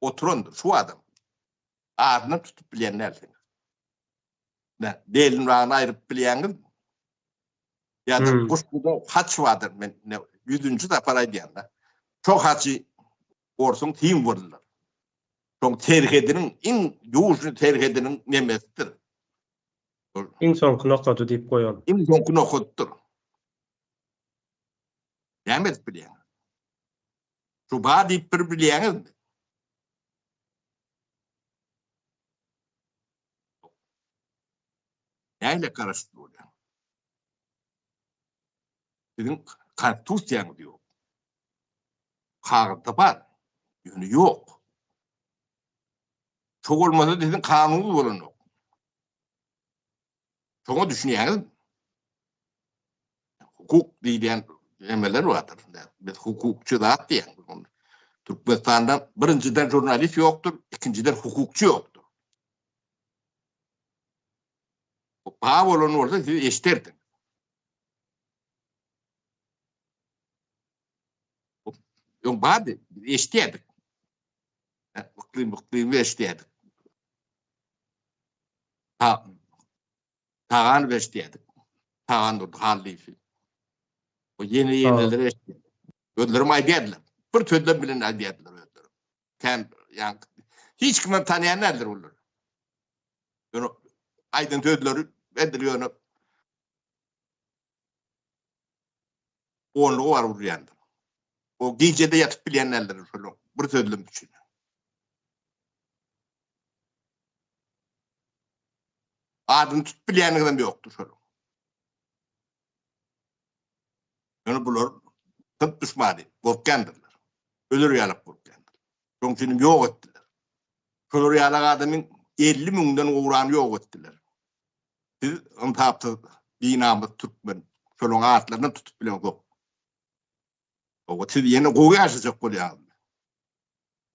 oturandyr şu adam. Adynam tutup bilýän dälsiň. Nä, belini raýyny aýryp bilýäňizmi? Ýa-da hmm. goşguda haç bardyr, men ýüzünji sapar aýdýan-da. Şo haçy orsuň tiň boldular. Şoň terhediniň, iň ýužny terhediniň nemesidir. Iň soňky nokady diýip goýan. Iň soňky nokadydyr. Näme edip bilýäň? Tuba diýip bir bilýäňizmi? Nähili garaşyp bolýar? Siziň konstitusiýaňyz ýok. Kagyzda bar, ýöne ýok. Şo bolmasa siziň kanunyňyz bolanok. Şoňa düşünýäňizmi? Hukuk diýýän emeler bardyr. Biz hukukçy zat diýýän. Türkmenistanda birinjiden jurnalist ýokdur, ikinjiden hukukçy ýokdur. Bu ba bolan bolsa siz eşderdiň. Yok bardy, eşitýärdik. Byklyň byklyň eşitýärdik. Ta Tagan eşitýärdik. Tagan durdy Hallyýew. O ýene ýeneleri eşitýärdik. Özlerim aýdýardylar. Bir sözlem bilen aýdýardylar özleri. Sen ýa hiç kim tanýan däldir olar. Ýöne aýdan sözleri edil ýöne onlugy bar urýandyr. O gijede ýatyp bilýän däldir şol bir sözlem üçin. Adyny tutup bilýänligi hem ýokdur şol. Ýöne bular tıp düşmany gorkýandyrlar. Öler ýalyk gorkýandyr. Şoň üçin ýok etdiler. Şolar ýaly adamyň 50 müňden gowrany ýok etdiler. Biz ynsapsyz, binamys türkmen. Şolaryň atlarynam tutup bileňzok. Oba siz ýene gowy ýaşajak bolýaňyzmy?